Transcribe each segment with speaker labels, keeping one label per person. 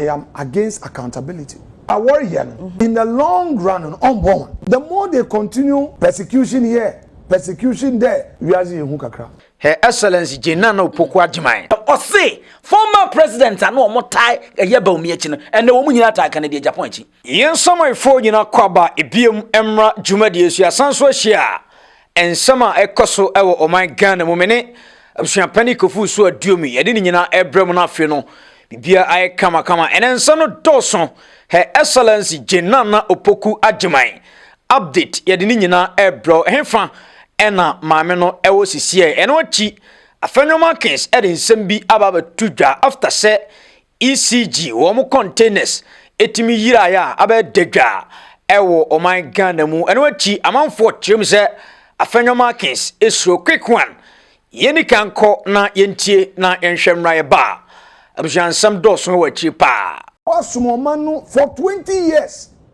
Speaker 1: I am against accountability. A wɔreyɛ no in the long run no ɔmbɔ hɔn. The more they continue persecution here, persecution there, wiadze yɛ hu kakra. Her Excellency
Speaker 2: Jane Nana Opoku Agyemang. Ɔse former president a na wɔtaa yɛ Bawumia akyi no, ɛnnɛ wɔn nyinaa taa Kennedy Agyapong akyi. Yɛn samanfoɔ nyina kɔ aba biom mmra dwumadie so yɛasan so ahyia nsɛm a ɛkɔ so wɔ ɔman Ghana mu mene abusuapani kofu so aduomi yɛde ne nyina ɛbrɛ mu no afei no bibia ayɛ kama kama ɛnɛ nsɛm no dɔɔso Her Excellency Jane Nana Opoku Agyeman update yɛde ne nyina ɛbrɛ hefa ɛna maame no ɛwɔ sisiɛ ɛno akyi afɛnwoma kings ɛde nsɛm bi aba abɛto dwa after sɛ ECG, wɔn containers ɛtumi yiraeɛ a abɛyɛ dadwa ɛwɔ ɔman Ghana mu. Ɛno akyi amanfoɔ kyerɛm sɛ Afenyo Markins ɛsuro quick one. Yɛni kan kɔ na yɛntie na yɛnhwɛ mmra yɛba a. Abusuansɛm dɔɔso wɔ akyiri paa. Wasom ɔman no
Speaker 1: for 20 years.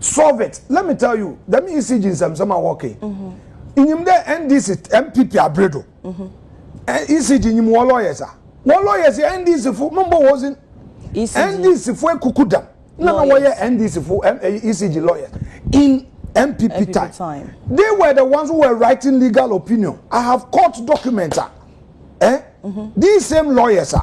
Speaker 1: solve it let me tell you dɛm ecg nsɛmsɛm a wɔka yi nyim dɛ ndc npp abre do ecg nyim wɔ lawyers a wɔ lawyers yɛ ndc fo no mbɔ wɔdze ndc fo ekuku dam na na wɔyɛ ndc fo ecg lawyers in npp time they were the ones who were writing legal opinion i have court documents a eh these same lawyers a.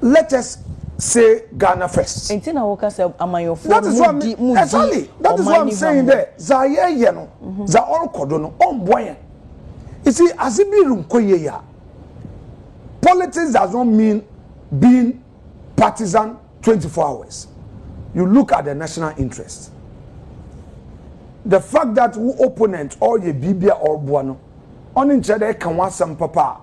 Speaker 1: let us say Ghana first. Nti na wo kasa amanyɔfo no mu di mu di. Exactly. That is what I'm saying there. Za yɛ yɛ no. Mhm. Za ɔrekɔ do no ɔmboa yɛn. You see, as it be nkɔ yie ya. Politics does not mean being partisan 24 hours. You look at the national interest. The fact that wo opponent ɔreyɛ biribi a ɔreboa no, ɔne nkyerɛ dɛ ɛka ho asɛm papa a.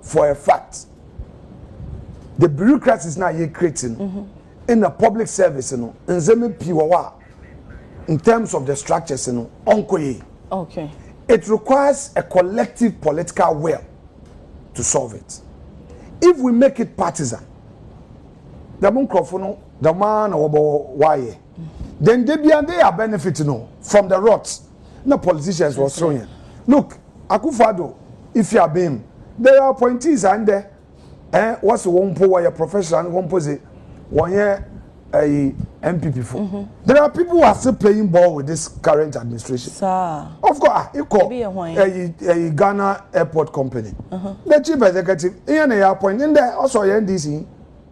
Speaker 1: for a fact the bureaucracies na yɛ create no mm-hmm. in the public service no nzɛmɛ pii wɔ hɔ a in terms of the structures no ɔnkɔ yie
Speaker 3: okay it
Speaker 1: requires a collective political will to solve it if we make it partisan dɛm nkurɔfo no dɛm ara na wɔbɔ wɔayɛ. then de bia they are benefit no from the rot na politicians wɔ soro yɛn look akufado ifi abem there are appointees and there eh wɔsi wɔn mpo wɔyɛ professional wɔn mpo se wɔn yɛ ɛyi npp fo mm-hmm. there are people who are still playing ball with this current administration Sir. of
Speaker 3: course ah,
Speaker 1: ikɔ ɛyi ɛyi ghana airport company mm-hmm. the chief executive iye na yɛ appoint ndɛ ɔsɔ yɛ ndc.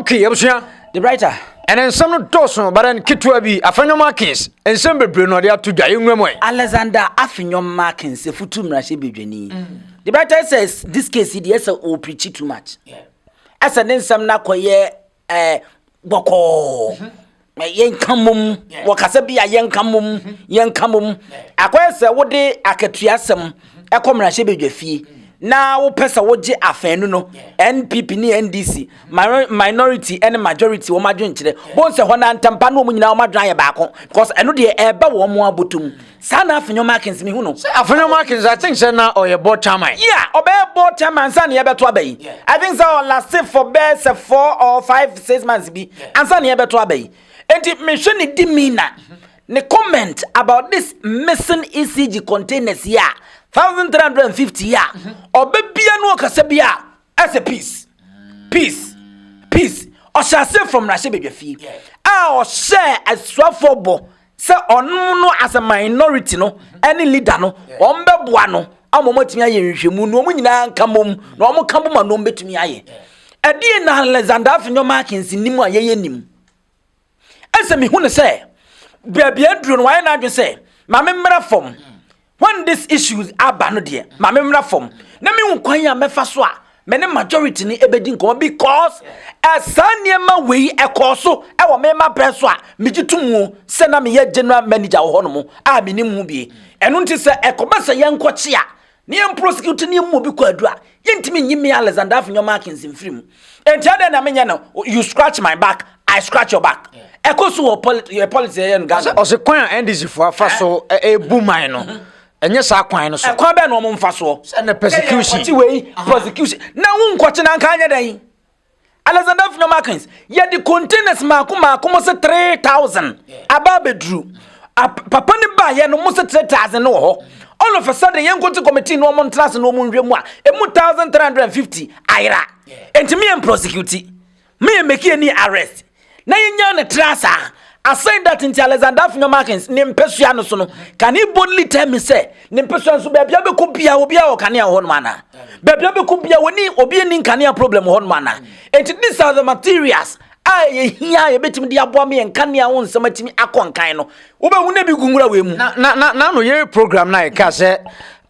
Speaker 1: Okay, abusua.
Speaker 2: The writer. Ɛnɛ nsɛm no dɔɔso bara no ketewa bi afɛnyɔm akins nsɛm bebree na ɔde ato dwa enwura mu ɛ. Alexander afɛnyɔm makins efutu mmarahyɛ bedwani. Mm. The writer says this case yi deɛ sɛ o preach too much. Yeah. Ɛsɛ ne nsɛm no akɔyɛ ɛɛ eh, bɔkɔɔ. Mm -hmm. Eh, yɛnka mmom wɔ kasa bi a yɛnka mmom mhm. yɛnka mmom akɔyɛ sɛ wode akatua asɛm ɛkɔ mmarahyɛ badwa fie na wopɛ sɛ wogye afanu no npp ne ndc minority ne majority wɔn adwenkyerɛ bɔn sɛ hɔ na ntampa ne wɔn nyinaa wɔn adwen ayɛ baako because ɛno deɛ ɛreba wɔn abotom Saa na Afenyo Markins mehu no. Sɛ Afenyo Markins, I think sɛ na ɔyɛ bɔ Chairman. Yeah, ɔbɛyɛ bɔ Chairman ansa na yɛbɛto aba yi. I think sɛ ɔ laste for bɛyɛ sɛ four or five, six months bi ansa na yɛbɛto aba yi. Enti mehwɛ ne demeanour, ne comment about this missing ECG containers yi a, thousand three hundred and fifty yi a, ɔbɛbia no ɔkasa bi a, ɛsɛ peace peace peace ɔhyɛ ase from mmarahyɛ badwa fie a ɔhyɛɛ asuafoɔ bɔ sɛ ɔnom no as a minority no ɛne leader no wɔn bɛboa no ama wɔn atumi ayɛ nhwehwɛmu na wɔn nyinaa nka mom na wɔn ka boma na wɔn bɛtumi ayɛ ɛdeɛ na alexander afenyo markins nim a yɛyɛ nim Ɛne sɛ mehu no sɛ baabi a aduro no wayɛ n'adwene sɛ ma me mmra fam when this issues aba no deɛ ma me mmra fam na mehu kwan a mɛfa so a me ne majority no ɛbɛdi nkɔmɔ because ɛsaa nneɛma wei ɛkɔɔ so ɛwɔ me ma brɛ so a megye to mu sɛ na meyɛ general manager wɔ hɔ no mu a menim ho bie ɛno nti sɛ ɛkɔba sɛ yɛnkɔkye a Na yɛn prosecutor no yɛn mu obi kɔ adu a, yɛntumi nyi me Alexander Afinyo Markins mfiri mu. Enti adɛn na menyɛ no you scratch my back, I scratch your back. Ɛkɔ so wɔ poli yɛ politics yɛyɛ no Ghana. Ɔse kwan a NDC foɔ afa so ɛɛbu man no, ɛnyɛ saa kwan no so. Ɛkwan bɛn na wɔn mfa soɔ? Sɛ na persecution. Yɛyɛ nkɔkye wei, prosecution. Na wo nkɔkye na anka anyɛ dɛn? Alexander Fino Markins yɛde containers mako mako mo se three thousand aba abɛduru papa no baayɛ no mo se three thousand no wɔ hɔ all of a sudden yɛn nkote committee no ɔmo ntena ase na ɔmo nhwɛ mu a emu thousand three hundred and fifty ayera ntumi yɛn prosecute meyɛ meki ani arrest na yenyaa no traa saa. Asɛn dat nti Alexander Afenyo Markins ne mpasua no so no, can he boldly tell me sɛ ne mpasua no so baabi a bɛkɔ biara obiara wɔ kanea wɔ hɔnom anaa? Baabi a bɛkɔ biara wɔni obi ani nkanea problem wɔ hɔnom anaa? Enti these are the materials a ɛyɛ hia a yɛbɛtumi de aboa ma yɛn nkanea ho nsɛm atumi akɔ nkan no. Wobɛhu no bi gu nwura wei mu. Na na na na no yere program no a yɛka sɛ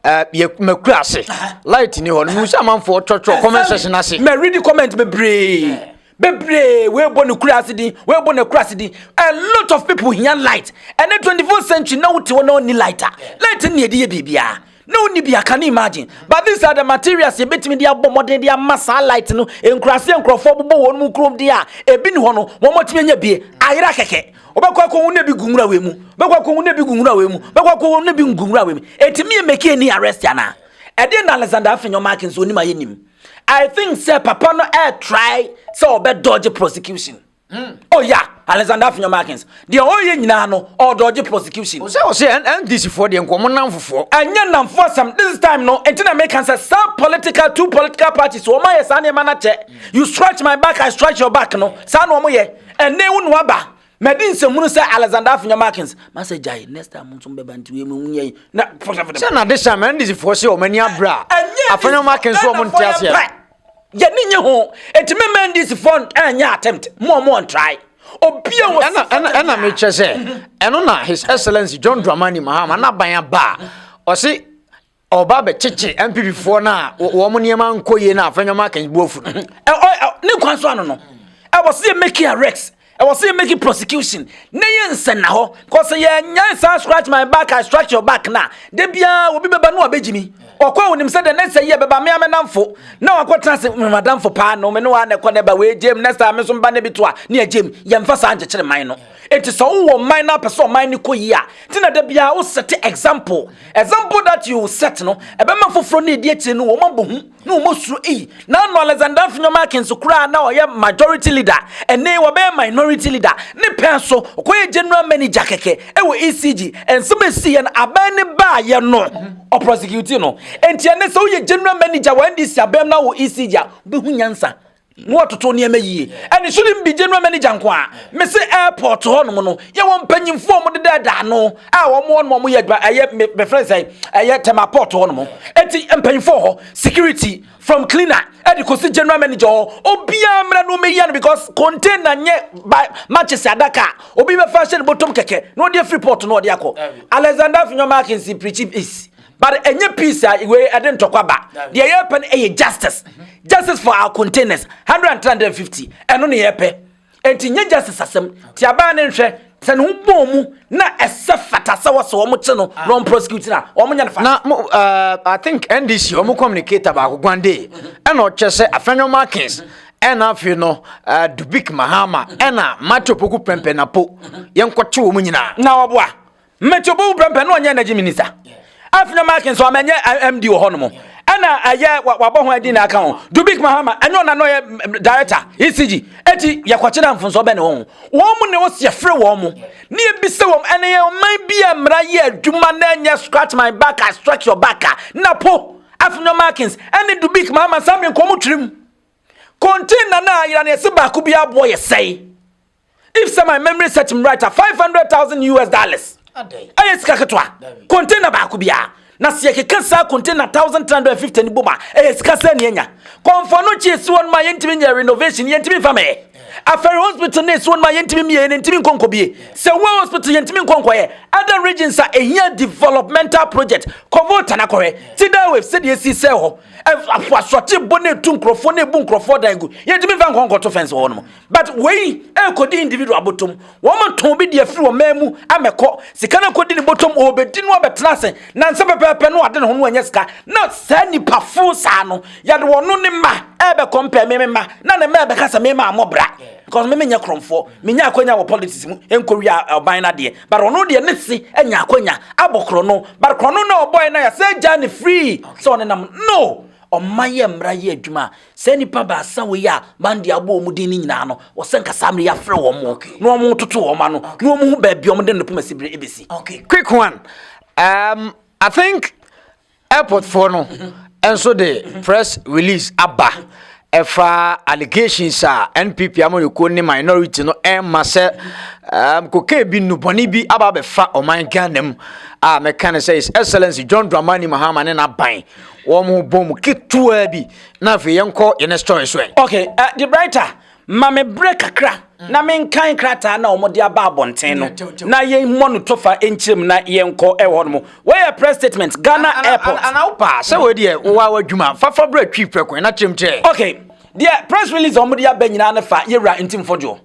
Speaker 2: uh, yɛ makura ase light ni hɔ no mu sɛ amanfoɔ twɔtwɔ comment section ase. Mɛ read comment bebree. bebree wɔrebɔ ne kura ase din wɔrebɔ ne kura ase din a lot of people hia light ɛne twenty four century na wote hɔ na ɔni light a light ne yɛde yɛ biribiara na wonni bia can you imagine but these are the materials yɛbɛtumi de abɔ mmɔden de ama saa light no nkuraseɛ nkurɔfoɔ bobɔ wɔn mu kurom deɛ a ebi ne hɔ no wɔn atumi anya bie ayera kɛkɛ wobɛkɔ akɔ ho na ebi gu nwura wei mu wobɛkɔ akɔ ho na ebi gu nwura wei mu wobɛkɔ akɔ ho na ebi gu nwura wei mu ɛtumi yɛ mɛki ani arrest anaa ɛdeɛ na alexander afenyɔ mark nso onim ayɛ nim I think sɛ papa no ɛ try sɛ ɔbɛ dodge prosecution. Mm. Oh yeah, Alexander Afinyo Markins. Deɛ ɔyɛ nyinaa no, ɔ dodge prosecution. Ɔsɛ ɔsɛ NDC foɔ deɛ nkɔmɔ namfofoɔ. Ɛnyɛ namfoɔ asɛm, this time no, nti na meka sɛ saa political two political parties wɔn ayɛ saa nneɛma no akyɛ. You scratch my back, I scratch your back no, saa na wɔn yɛ. Ɛnɛ wo na waba. madi nsɛmhunu sɛ alexander afinya markins masɛ gyae next time nso bɛba nti wei mu nyɛ yi na sɛ na de hyɛ ma ɛnde sifoɔ sɛ ɔma ani abrɛ a afanya markins so ɔmo nte aseɛ yɛne nye ho ɛti mɛma ɛnde sifoɔ ɛnyɛ attempt mo ɔmo ɔntrae obia wɔ ɛna ɛna ɛna mekyɛ sɛ
Speaker 4: ɛno na his excellence john dramani mahama na ban aba a ɔse ɔba abɛkyekye MPPfoɔ no a wɔn nneɛma nkɔ yie no a afɛn nneɛma akɛn bu afu no ne kwan
Speaker 2: so ano no ɛwɔ sɛ yɛ make arrest ɛwɔ sɛ yɛ make prosecution ne yɛ nsɛn na hɔ kɔsɛ yɛ nyɛ saa scratch my back I scratch your back na de biara obi bɛba no abɛgyi mi ɔkɔ onim sɛ the next year bɛba mmea mɛnamfo na wakɔ tena se mmadamfo paa no me ne wa na ɛkɔ ne ba wei gyem next time nso mba ne bi to a ne yɛ gyem yɛmfa saa nkyekyere man no Enti sɛ wowɔ ɔman na apɛ sɛ ɔman no kɔ yie a, nti na da biara wo set example. Example that you set no, ɛbɛma foforɔ ne ɛdi akyire no wɔn abɔ hu na wɔn asuro ei. Na ano Alexander Finyo Markins koraa na ɔyɛ majority leader, ɛnee wɔbɛyɛ minority leader. Ne pɛn so, ɔkɔyɛ general manager kɛkɛ ɛwɔ ECG. Ɛnsɛm ɛsii yɛ no, abɛn ne baa yɛ no, ɔprɔsekiuti no. Enti ɛnɛ sɛ woyɛ general manager wɔ NDC abɛn mu na wɔ ECG a, wobɛhu nyansa. na wɔtoto nneɛma yie ɛne so ne mbigye no manager nko a mese airport hɔnom no yɛwɔ mpanyimfoɔ a wɔdeda ɛda ano a wɔn hɔ nom wɔyɛ adwuma ɛyɛ mefrɛ sɛ ɛyɛ tema port hɔnom ɛti mpanyimfoɔ hɔ security from cleaner ɛde kɔsi general manager hɔ obiara mmerɛ no meyɛ no because container nyɛ ba matches adaka obi bɛfa hyɛ ne bɔtɔm kɛkɛ na ɔde afiri port no ɔde akɔ alexander finyɔma akensi preaching peace but ɛnyɛ peace a wei ɛde ntɔkwa ba deɛ yɛpɛ no ɛyɛ justice justice for our containers 150 ɛno ne yɛpɛ ɛnti nyɛ justice asɛm ti abaa ne nhwɛ sɛ ne ho bɔɔ mu na ɛsɛ fata sɛ wɔsɛ wɔn kye no na wɔn prosecute na wɔn nya ne fa. na mo ɛɛ uh, i think
Speaker 4: ndc wɔn communicator baako gwande ɛna ɔkyɛ sɛ afɛnyo markins ɛna afei no uh, dubik mahama ɛna matthew poku pɛmpɛnapo yɛn kɔkye wɔn nyinaa. na ɔboa.
Speaker 2: mmeti obi wo prɛmpɛ na ɔnyɛ energy minister afina mark nso ama ɛnyɛ eh, md wɔ hɔ nom ɛna ɛyɛ eh, wabɔ ho adi na aka ho dubik mahama ɛnyɛ ɔna na ɔyɛ director ecg eti yɛkɔkye na mfonso bɛ ne wɔn wɔn mu na ɛwɔ si ɛfrɛ wɔn mu ne ebisa wɔn ɛna yɛ ɔman bi a mmara yɛ adwuma na ɛnyɛ scratch my back I stretch your back na po afina markins ɛne dubik mahama samre nkɔn mu twirim kɔntin na na ayira na ɛsɛ baako bi aboɔ yɛ sɛe. if sɛ my memory set me right a five hundred thousand us dollars ɛyɛ sika ketewa container baako biara na sɛ yɛkeka saa container thousand three hundred fifty no bom a ɛyɛ sika sɛ ne anya kɔnfɔ no kye si wɔn ma yɛntumi nyɛ renovation yɛntumi nfa mɛyɛ afɛre hospital ne si wɔn ma yɛntumi mmie ne ntumi nkɔnkɔ bie sɛ wo hospital yɛntumi nkɔnkɔ yɛ other regions a ehia developmental project kɔnfɔ tana kɔhɛ ti da wave sɛdeɛ esi sɛ hɔ afoasɔte bɔ ne etu nkorɔfoɔ ne ebu nkorɔfoɔ dan gu yɛntumi nfa nkɔnkɔ to fɛnsi hɔ nom But wei ɛrekɔdi individual abotom. Wɔn ntɔn bi de afiri wɔn man mu amɛkɔ. Sika no akɔdi ne bɔtɔm ɔrebɛdi no abɛtena ase. Nansa pɛpɛɛpɛ no ade ne ho no ɛnyɛ sika. Na saa nipa fo saa no yɛde wɔn no ne mma ɛrebɛ compare me me mma. Na ne mma ɛbɛka sɛ me maa mmɔ bra. Because me menyɛ krɔmfoɔ. Menya akwanya wɔ politics mu ɛnkɔ wia ɔban no adeɛ. But ɔno deɛ ne se anya akwanya abɔ krɔno. But krɔno no a ɔbɔɛ no a yɛasɛ gyaa no free sɛ ɔnenam no. Ɔmma yɛ mmra yɛ adwuma a Saa nnipa baasa wei a Mandy abɔ wɔn din no nyinaa no, wɔsɛ nka saa mmerɛ yi afrɛ wɔn okay. na wɔn toto wɔn ano na wɔn hu baabi wɔn de no poma sibire ebesi. Okay, quick one.
Speaker 4: Um, I think airport foɔ no nso de press release aba ɛfa allegations a NPP amanyɔkuo ne minority no ɛma sɛ um, kokain bi nnubɔne bi aba abɛfa ɔman Ghana mu a mɛka ne sɛ His Excellency John Dramani Mahama ne n'aban wɔn bɔ mu ketewa bi na afei yɛnkɔ yɛn next story so ɛ. okay uh, eh, the brighter
Speaker 2: ma me berɛ kakra mm. na menkan krataa na wɔde aba abɔnten no na yɛmmɔ no tofa nkyerɛ mu na yɛnkɔ ɛwɔ no mu wɔyɛ press statement ghana airport ana wopa sɛ wei
Speaker 4: deɛ wowa w'adwuma fafa berɛ twi prɛko na kyerɛm kyerɛ okay deɛ
Speaker 2: press release a wɔde aba nyinaa no fa yɛwura ntimfo dwoɔ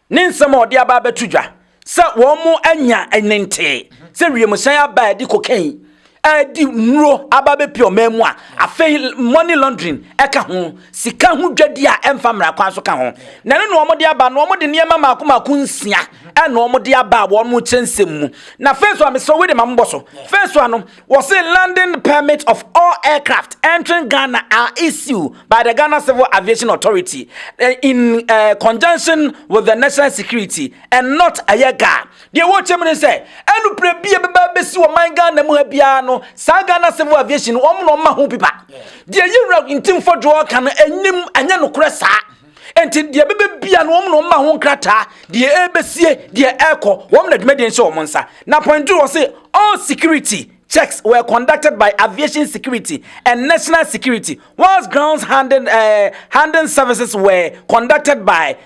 Speaker 2: ne nsɛm a ɔde aba abɛto dwa sɛ wɔanya ne ntee sɛ wiemhyɛn aba a ɛde cocaine ɛde nnuro aba bɛpie ɔman mu a afei money laundering ɛka ho sika ho dwadi a ɛmfa mmara kwan so ka ho na ɛno na wɔde aba na wɔde nneɛma mmaako mmaako nsia ɛna wɔde aba a wɔn kyerɛ nsɛm mu na fɛn so a mesrɛ wei de ma mbɔ so fɛn so a no Wɔse landing permit of all aircraft entering Ghana are issued by the Ghana Civil Aviation Authority eh, in uh, conjunction with the national security and not ɛyɛ ga. Deɛ wɔkyɛ mu ne sɛ ɛnuprɛ bi a ɛbɛba bɛsi wɔ man Ghana mu ha biara no saa Ghana Civil Aviation wɔn na wɔma ho pipa. Deɛ yɛwura ntimfo dwoɔ ka no ɛnim ɛnyɛ nokorɛ saa. Enti deɛ ɛbɛbɛ bia no wɔn na wɔn ma ho nkrataa deɛ ɛrebɛsie deɛ ɛrekɔ wɔn na dwumadie nhyɛ wɔn nsa na point two wɔn se all security checks were conducted by aviation security and national security whilst grounds handling, uh, handling services were conducted by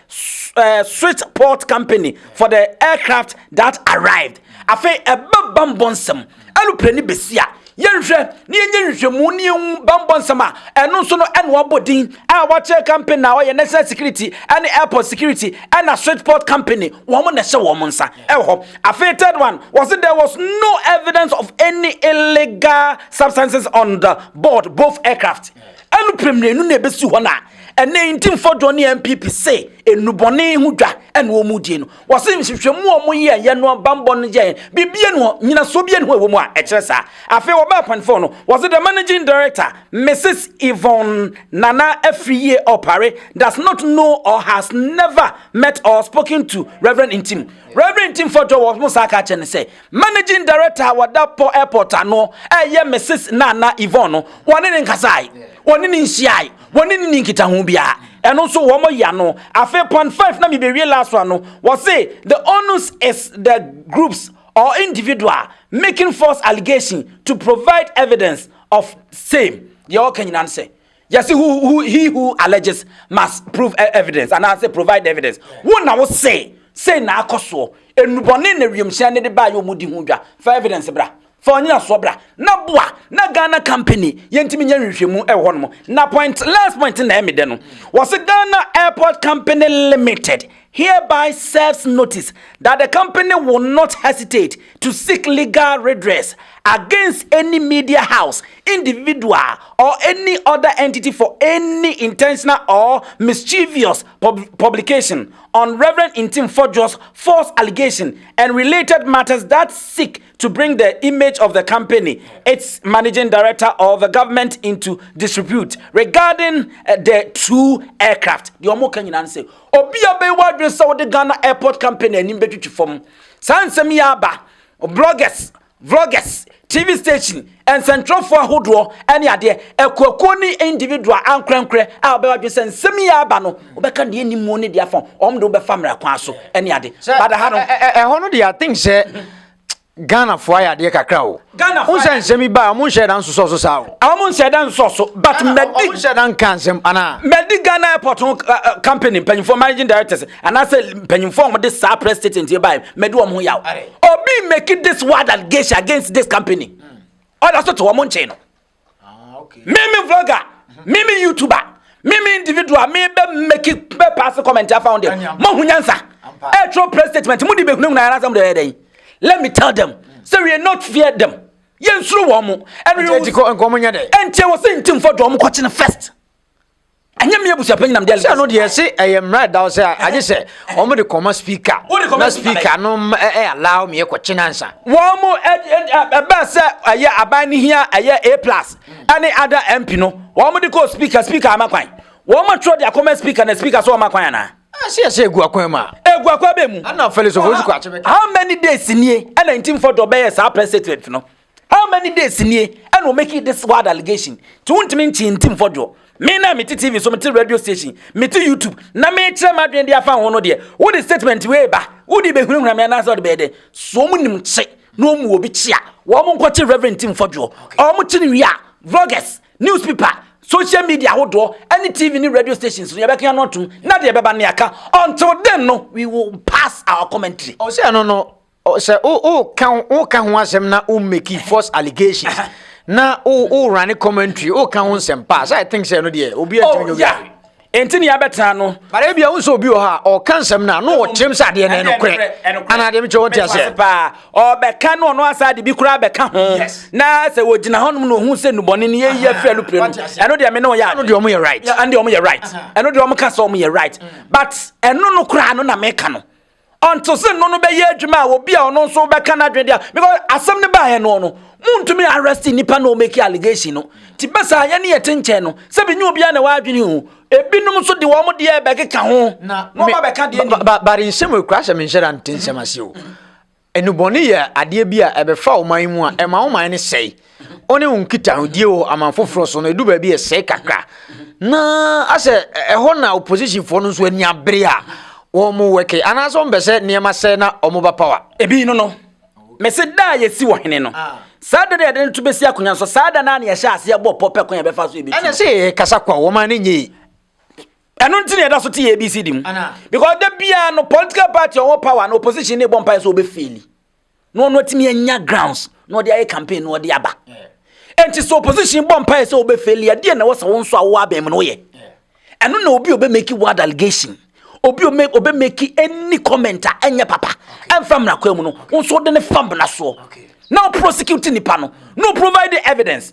Speaker 2: uh, switch port company for the aircraft that arrived afei ɛbɛba mbɔ nsɛm Anupre ne besi a yɛnhwɛ na yɛnyɛ nhwehwɛmu na yɛhu bammɔ nsɛm a ɛno nso no ɛna ɔbɔ din a wɔakyerɛ company na ɔyɛ national security ne airport security ɛna switchport company wɔn na ɛhyɛ wɔn nsa ɛwɔ hɔ afei third one wɔsi there was no evidence of any illegal substances on the board both aircraft ɛnu pɛmìlɛnu na ebesi hɔ na ɛnɛ nti mfɔdɔ ne npp se enubɔne ho dwa ɛna wɔn die no Wɔse nhwehwɛmu a wɔyɛɛ yɛ no bammɔ no yɛ biribi no nyinasoɔ bi no ɛwɔ mu a ɛkyerɛ saa. Afei wɔbaa panifɔɔ no, wɔse the managing director Mrs Yvonne Nana Afriyie Opare does not know or has never met or spoken to Rev Ntim. Rev Ntim Fɔdwo wɔ mo saa ka kyerɛ no sɛ managing director a wɔda pɔ airport ano ɛyɛ Mrs Nana Yvonne no wɔne ne nkasae, wɔne ne nhyiae. Wɔn ne ni nkitaho biara. Ɛno nso wɔn ya no. Afei point five na mibewie last one no. Wɔse the onus is the groups or individual making false allegation to provide evidence of same. Deɛ ɔka nyinaa no sɛ yɛse who who he who alleges must prove e-, evidence anaasɛ provide evidence. Wo na wo se sei na akɔ soɔ. Enubɔne na wiemhyɛn ne de baayɛ ɔmo di ho dwa. Fa evidence bra. fa ɔnyinasoɔ bra na boa na ghana company yɛntumi nyɛ nhwehwɛmu ɛwɔ hɔ nom na point last point na ɛmi dɛ no wɔsi ghana airport company limited hereby serves notice that the company will not hesitate to seek legal redress against any media house individual or any other entity for any intentional or mischievous pub publication on Reverend Intim Fodjo's false allegation and related matters that seek to bring the image of the company, its managing director or the government into disrepute regarding uh, the two aircraft. The Omo ka nyinaa sɛ obi a bɛyɛ wadwene sɛ wɔde Ghana airport company anim bɛtwitwi fam. Saa nsɛm yi aba bloggers, vloggers, TV station nsɛntwerɛfoɔ ahodoɔ ne adeɛ, akuakuo ne individual ankorɛnkorɛ a wɔbɛba adwene sɛ nsɛm yi aba no, wɔbɛka deɛ ɛnim mu ne deɛ afa wɔn de wobɛfa mmara kwan so ne ade. Bada ha no. Ɛhɔ no deɛ I think sɛ
Speaker 4: Ghanafoɔ ayɛ adeɛ kakra o. Ghanafoɔ sɛ nsɛm yi baa, wɔn nhyɛ da nsosɔ so saa o. Wɔn nhyɛ da nsosɔ so, but mɛdi. Wɔn nhyɛ da nka nsɛm anaa. Mɛdi Ghana airport company mpanyinfoɔ managing directors anaasɛ mpanyinfoɔ a wɔde saa press statement yɛ baa mɛdi wɔn ho yaw obi make this word allegation against this company ɔda so te wɔn nkyɛn no mímí vlogger mímí youtuber mímí individual mi bɛ make bɛ pass comment afa wɔn deɛ mo ho nyansa ɛtwerɛ press statement mo de bɛ hunahuna yɛn asɛm de ɛyɛ dɛ let me tell them say we are not fear them yɛn soro wɔn mo ɛnu yɛ wɔn ɛnti wɔ sɛ nti nfɔ do wɔn kɔkye no first. ɛnyɛ mi abusuapɛnyin na mi de alikɛse. sɛ ɛno deɛ ɛse ɛyɛ mmara ɛda hɔ sɛ agye sɛ wɔn de kɔma speaker na speaker no ɛyɛ allow mi ɛkɔ kyen ansa. wɔn mo ɛbɛn sɛ ɛyɛ aban ne hia ɛyɛ a plus ɛne ada mp no wɔn mo de kɔ speaker speaker ama kwan wɔn mo atwerɛ de akɔma speaker na speaker so wɔn ma kwan anaa. ɛsɛ ɛsɛ egu akwan mu a. egu akwan bɛ mu. ɛna fɛlɛ sɔfɔ osu kɔ akyɛ bɛ. how many days nie ɛna ntinfɔ dɔ bɛyɛ saa press statement no. How many days nie ɛna o make this wild allegation ti wontumi nkyee nti mfɔdwoɔ me na mete tv so mete radio station mete youtube na mekyerɛ m'adwene de afa ho no deɛ wode statement wei ba wode bɛhunahuna me anaasɛ wode bɛyɛ dɛ so ɔmo nim kye na ɔmu obi kye a wɔn nkɔkye reverend ti mfɔdwoɔ ɔmo kye no wie a vloggers newspaper social media ahodoɔ ɛne tv ne radio stations no yɛbɛka no atom na deɛ ɛbɛba ne aka until then no we will pass our commentary ɔsɛ ɛno no sɛ woka ho asɛm na wo make false allegations na wo run commentary woka ho nsɛm paa sɛ i think sɛ ɛno deɛ obi atumi nyɛ obi ɛnti ne yɛbɛtena no bare bia wo sɛ obi wɔ hɔ a ɔka nsɛm no a na wɔkyerɛm sɛ adeɛ no ɛnokorɛ anaa deɛ mekyerɛ wɔte aseɛ paa ɔbɛka no ɔno asa de bi koraa bɛka ho na sɛ wɔgyina hɔ nom na ɔhu sɛ nnubɔne no yɛyi afiri alupire no ɛno deɛ me ne ɔyɛ ɛno deɛ ɔmo yɛ right ɛno deɛ ɔmo yɛ right ɛno deɛ ɔmo ka sɛ ɔmo yɛ right mm. but ɛno no koraa no na meka no ɔnte se no no bɛyɛ adwuma a obi a ɔno nso bɛka n'adwene de a because asɛm no baeɛ no no muntumi arrest nipa na ɔmɛki allegation no ti bɛ saa yɛ ne yɛte nkyɛn no sɛ bi nyɛ obiara na wadwene ho ebinom nso de wɔn deɛ bɛkeka ho na wɔn ba bɛka deɛ ni. bari nsɛm ekura sɛ menhyɛ da nte nsɛm ase o enubɔne yɛ adeɛ bi a ɛbɛfa ɔman mu a ɛma ɔman no sɛe wo ne wo nkitahodie wɔ aman foforɔ so no ɛdu baabi ɛsɛe kakra na asɛ ɛhɔ na oppositionfoɔ no nso ani abere a wɔn wɛke anaasɛ wɔn bɛ sɛ nneɛma sɛ na wɔn ba power. ebi no no mɛsɛ da a yɛsi wɔ hene no ah. saa
Speaker 2: da no yɛde no to bɛsi akonnwa nso saa da no a na yɛhyɛ aseɛ bɔ pɔ pɛ kwan yɛbɛfa so yɛbɛtu ɛna sɛ yɛ kasa kwa
Speaker 4: wɔn ma ne nyɛ ɛno
Speaker 2: nti na yɛda so te yɛ abc di mu because da biara no political party ɔwɔ power na opposition ne bɔ mpaeɛ sɛ wɔbɛfeeli na ɔno atumi anya grounds na ɔde ayɛ campaign na ɔde aba ɛnti sɛ opposition bɔ mpaeɛ sɛ wobɛfeli adeɛ na ɛwɔ sɛ wo nso a wowɔ abɛn mu no woyɛ ɛno na obi obɛmaki word allegation obi obɛmaki any comment a ɛnyɛ papa ɛmfa mmara kwa mu no wo nso wode ne fa mmara soɔ na woprosecute nipa no na provide evidence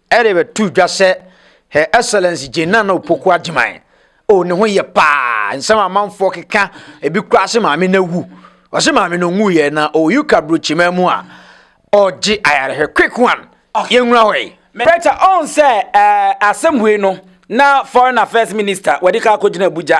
Speaker 4: Ɛde bɛto dwa sɛ Her Excellency Jane Nana Opoku Agyeman, oh ne ho yɛ paa, nsɛm amanfoɔ keka, ebi koraa se maame no awu. Ɔse maame no nwuiɛ na ɔwɔ UK aburokyiman mu a ɔregye ayarehwɛ. Quick one, yɛnwura hɔ yi. Preacher ɔn sɛ
Speaker 2: ɛɛ asɛm wei no na foreign affairs minister wadi kan akɔgyina Abuja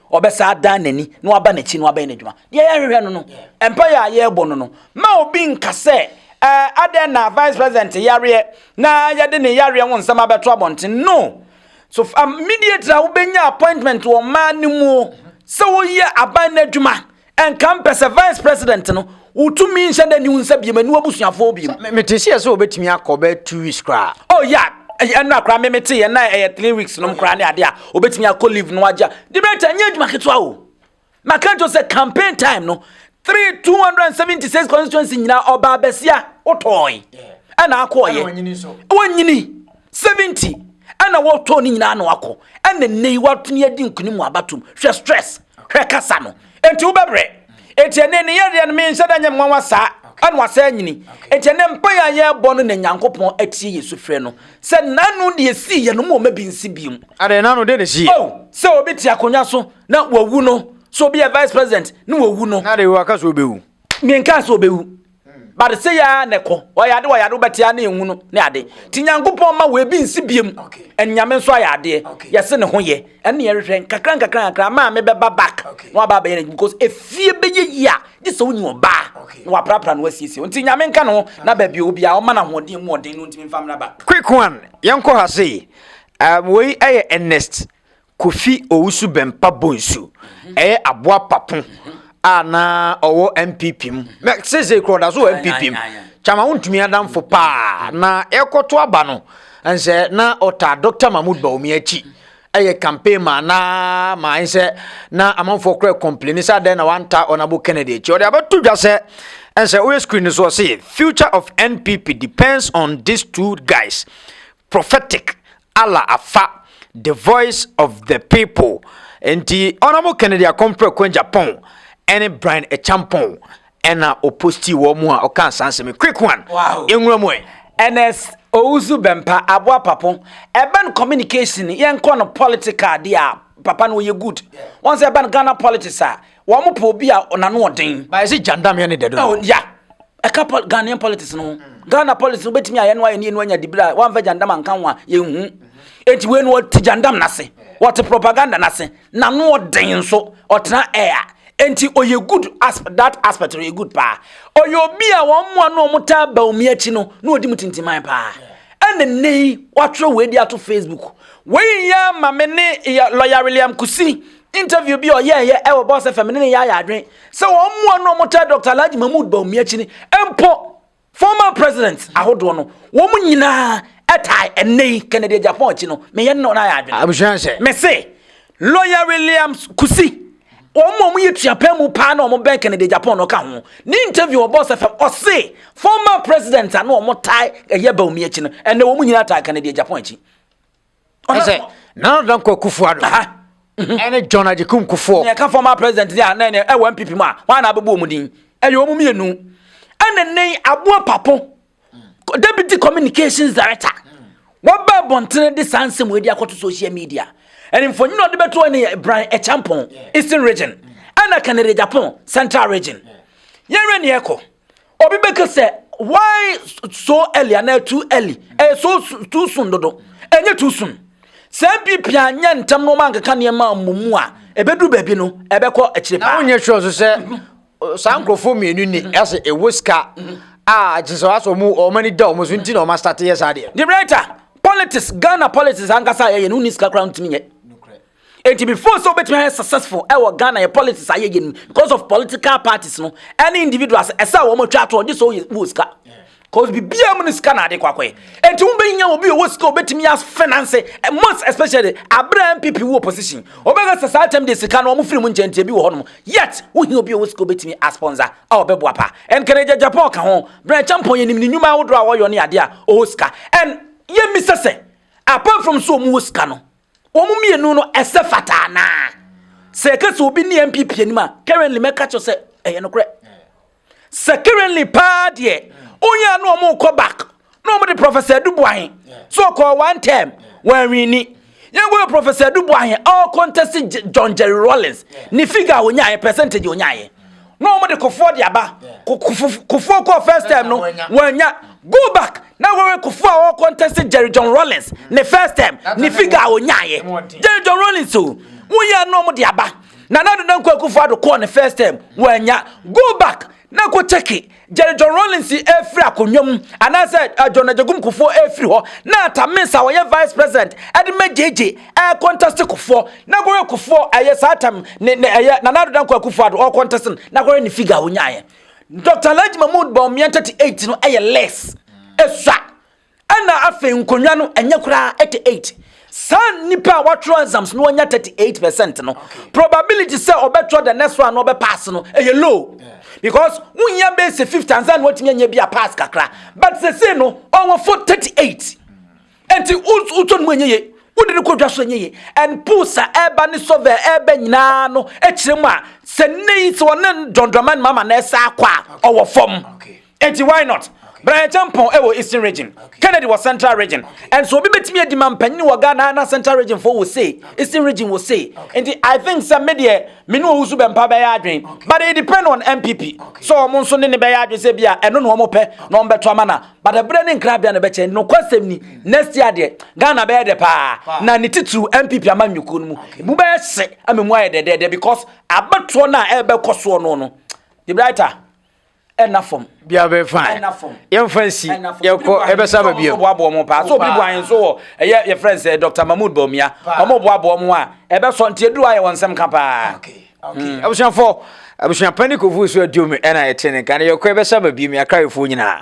Speaker 2: Ɔbɛsan adan n'ani na waba n'akyi na wabɛyɛ n'adwuma. Deɛ yɛhwehwɛ no no, mpaeɛ a yɛrebɔ no no, ma obi nka sɛ, eh, adɛn na vice president yareɛ na yɛde ne yareɛ ho nsɛm abɛto abɔnten. No. So fa mediator a wobɛnya appointment wɔ mmaa no mu o, sɛ woyɛ aban no adwuma, Ɛnka mpɛ sɛ vice president no wo tumi nhyɛ da ni wo nsa biem ɛni wabusuafoɔ biem. Me te seɛ sɛ obɛtumi
Speaker 4: akɔ bɛ two weeks koraa. Oh yeah
Speaker 2: ɛnura koraa me me te yɛ na ɛyɛ three weeks nom koraa ne ade a obɛtumi akɔ leave no agya. Debate ɛnyɛ adwuma ketewa o. Maka nkyɛw sɛ campaign time no three two hundred and seventy six constituency nyinaa ɔbaa bɛsia wotɔɔe ɛna akɔɔyɛ wɔnyini seventy ɛna wɔtɔɔ ne nyinaa na wakɔ ɛna nnɛ yi watumi adi nkunim wɔ abatom hwɛ stress. Hwɛ kasa no. Enti wobɛbrɛ. Enti ɛnɛ ne yɛdeɛ no menhyɛ da nyɛ nwanwa saa. Ɛna wasa anyini. Enti ɛnɛ mpaeɛ a yɛrebɔ no na Nyankopɔn atie yɛn sufrɛ no. Sɛ nano deɛ esii yɛn no mo mma bi nsi bio. Adeɛ nano deɛ na esi
Speaker 4: yɛn. Oh, sɛ obi te
Speaker 2: akonnwa so na wawu no. Sɛ obi yɛ vice president na wawu no. Na adeɛ wɔ aka sɛ obewu.
Speaker 4: Menkaa sɛ obewu.
Speaker 2: but sɛ yɛ na ɛkɔ ɔyɛ ade wɔyɛ ade wobɛte a na ɛnwu no ne ade nti nyankopɔn ma wɔ ebi nsi biam anyame nso ayɛ adeɛ yɛse ne ho yɛ ɛne yɛhwehwɛ nkakra nkakra nkakra maa me bɛba back na waba abɛyɛ no because efie bɛyɛ yi a gye sɛ wonyi ɔbaa na waprapra no wasiesie nti nyame nka no na baabi obi a ɔma no ahoɔden mu ɔden no ntumi mfa mmra back quick one yɛnkɔ
Speaker 4: ha sei um, wei ɛyɛ ernest Kofi Owusu Bempah Bonsu yɛ aboa papo a na ɔwɔ NPP mu. Na seesei kora ɔda so wɔ NPP mu. Kyama wontumi adamfo paa. Na yɛkɔto aba no, nsɛ na ɔtaa Dr. Mahmoud Bawumia akyi ɛyɛ campaign ma na ma nsɛ na amanfoɔ kora complain sɛ adɛn na wanta Honorable Kennedy akyi. Ɔde abɛto dwa sɛ ɛnsɛ woyɛ screen no so ɔse future of NPP depends on these two guys prophetic Allah afa The Voice of the People nti ɔnam Kennedy Akomfrɛ Kwangyapɔn ɛne Brian Ekyampɔn ɛna ɔpostii wɔn mu a ɔkaa saa nsɛm quick one nwura mu ɛ. Ernest
Speaker 2: Owusu Bɛmpa aboa papo ɛba no communication yɛnkɔ no political deɛ a papa no ɔyɛ good wɔn sɛ ɛba no Ghana politics a Wɔn pɛ obi a n'ano ɔden. Bayɛ sɛ gyandamyɛ ne dɛ
Speaker 4: dodo. Oh, ya
Speaker 2: ɛka pol Ghanaian politics no ho. Mm. Ghana politics no bɛtumi ayɛ no ayɛ ne yɛnu anya dibere a wɔamfa gyandam anka ho a yɛnhu. Mm-hmm. Enti wei no wɔte gyandam n'ase. Wɔte propaganda n'ase. N'ano ɔden nso ɔtena air. Enti ɔyɛ good as that aspect ɔyɛ good paa. Ɔyɛ obi a wɔn mmoa no wɔn taa ba omi akyi no na ɔdi mu tintiman paa. Ɛna nne yi wɔatwerɛ wei de ato Facebook. Wei yɛ ama me ne lɔya William Kusi Interview bi a ɔyɛeɛ wɔ Boss FM ne ne yɛayɛ adwene sɛ wɔn mmoa no a wɔtaa Dr. Alhaji Mahmood Bawumiakyini mpo former presidents ahodoɔ no wɔn nyinaa ɛtae ɛnnɛ yi Kennedy Agyapong akyi no meyɛ ne wɔn ayɛ adwene. Abusua hyɛ. Mese Lawyer Williams Kusi wɔn a wɔyɛ tuapɛn mu paa na wɔn bɛn Kennedy Agyapong no ka ho ne interview wɔ Boss FM ɔse former presidents a na wɔn tae ɛyɛ Bawumiakyi no ɛnnɛ
Speaker 4: wɔn
Speaker 2: nyinaa tae Kennedy Agyapong akyi. ɛsɛ nana
Speaker 4: danko akufo ado mhm. ɛne john agyekum kufoɔ nea ɛka former president ne a
Speaker 2: na ɛne ɛwɔ npp mu a wɔn a na abɛbɔ wɔn din ɛyɛ wɔn mmienu ɛne ne aboa papo deputy communications director wɔbɛ bɔntene de saa nsɛm wɔadi akɔto social media ɛne mfonyin a ɔde bɛto ɛne bran ɛkyɛmpɔn eastern region ɛna kanere japan central region yɛnwɛ ne ɛkɔ Obi bɛka sɛ why so early anaa too early ɛyɛ so too soon dodo ɛnyɛ too soon sɛ npp anyɛ ntɛm na ɔma nkeka nneɛma mmomu a ɛbɛduru baabi no ɛbɛkɔ akyire paa. na wonyɛ sure nso sɛ
Speaker 4: saa nkurɔfoɔ mmienu ni ɛsɛ ɛwɔ sika a gye sɛ wɔasɔ mu wɔn ani da wɔn so nti na wɔn asate yɛ saa deɛ. the writer
Speaker 2: politics Ghana politics ankasa a yɛyɛ no wonni sika koraa ntumi nyɛ Enti me feel sɛ wobɛtumi ayɛ successful ɛwɔ Ghana yɛ politics ayɛ yɛ no because of political parties no ɛne individuals ɛsɛ a wɔn atwa atoɔ gye sɛ woyɛ wɔ sika cause biribiara mu no sika na ade kɔ akɔyɛ enti wobɛnya obi ɔwɔ sika obɛtumi yɛ finance eh, most especially aberɛ MPP wɔ opposition wɔbɛka sɛ saa tɛm deɛ sika no wɔn firi mu nkyɛn nti bi wɔ hɔnom yet wohia obi ɔwɔ sika obɛtumi asponsor a ɔbɛboa pa and kɛnɛ gyagyapɔ ɔka ho berɛ kyɛmpɔn yɛnim ne nnwuma ahodoɔ a wɔyɔ ne adeɛ a ɔwɔ sika and yɛmmisa sɛ apart from so wɔn wɔ sika no Wɔn mmienu no ɛsɛ fata anaa? Sɛ ɛka sɛ obi ne NPP anim a, currently mɛka kyerɛ sɛ ɛyɛ nokorɛ. Sɛ currently paa deɛ, onyɛ a na wɔn kɔ back na wɔn de Professor Adubuahe so ɔkɔɔ one term wɔanwini. Yɛn kɔhwɛ Professor Adubuahe a ɔkɔntɛsi John Jerry Rawlings ne figure a ɔnyaeɛ percentage a ɔnyaeɛ. na wɔn de kofoɔ de aba kofoɔ kɔɔ first time no wɔanya go back na wɔwɛ kofoɔ a wɔwɔ contest Jerry John Rollins ne first time ne figure a wɔnyaeɛ Jerry John Rollins o woyɛ na wɔn de aba na na dodo nkɔ kofoɔ ado kɔɔ ne first time wɔanya go back na kɔ check it Jerry John Rawlings efiri akonnwa mu anaasɛ eh, John Agyekum Kufuor efiri hɔ na Tamis a ɔyɛ vice president ɛde ma gyegye ɛyɛ contest Kufuor na kɔhwɛ Kufuor ɛyɛ saa tam ne ne ɛyɛ Nana Addo Dankwa Akufo Addo ɔwɔ contest no na kɔhwɛ ne figure a onyaeɛ Dr. Alhaji Mahmood Bawumia 38 no ɛyɛ less esua Ɛna afei nkonnwa no ɛnyɛ koraa 88 saa nipa a watwerɛ exams no ɔnya 38 percent no probability sɛ ɔbɛtwerɛ the next one na ɔbɛ pass no ɛyɛ low because wohia bɛyɛ sɛ 50 ansa na watumi anya bi a pass kakra but sese no ɔwɔ fo 38 nti wotɔ no mu ɛnyɛ ye wode no kɔdwa so ɛnyɛ ye and pools a ɛba ne sɔvɛ ɛba nyinaa no ɛkyerɛ mu a sɛ nnɛ yi sɛ ɔne dɔndɔma no mama na ɛsa akɔ a ɔwɔ fam Eti why not? Brian Acheampong wɔ Eastern Region, Kennedy wɔ Central Region. Ɛnso obi betumi adi ma mpanyin wɔ Ghana na Central Region fo wɔ sei, Eastern Region wɔ sei. Nti I think sɛ me deɛ me ne owusu bɛmpa bɛyɛ adwen. But it depend on NPP. So wɔn nso ne ne bɛyɛ adwen sɛ bi a ɛno na wɔn pɛ na wɔn bɛto ama na. But ɛbrɛ ne nkrabea na ɛbɛkyɛ. Nokwasɛm ni next year deɛ Ghana bɛyɛ dɛ paa na ne titiriw NPP ama nyukuo no mu. Emu bɛyɛ hye ama mu ayɛ dɛdɛɛdɛ because abɛtoɔ no a ɛbɛkɔ soɔ no no. The brighter. ɛna fam. bia bɛ fa
Speaker 4: ɛna fam. yɛn fa nsi yɛkɔ ɛbɛ sa ba bia. ɔmo boaboa ɔmo paa so obi bu
Speaker 2: ahen so wɔ ɛyɛ yɛ fɛn sɛ dr mahmood bawumia ɔmo boaboa ɔmo a ɛbɛ sɔ nti eduru ayɛ wɔn nsɛm ka paa. Hmm.
Speaker 4: abusuafo abusuapɛn ne kofu so aduom ɛna ɛte ne nka ne yɛkɔ ɛbɛ sa ba bia mi akra yɛfo nyinaa.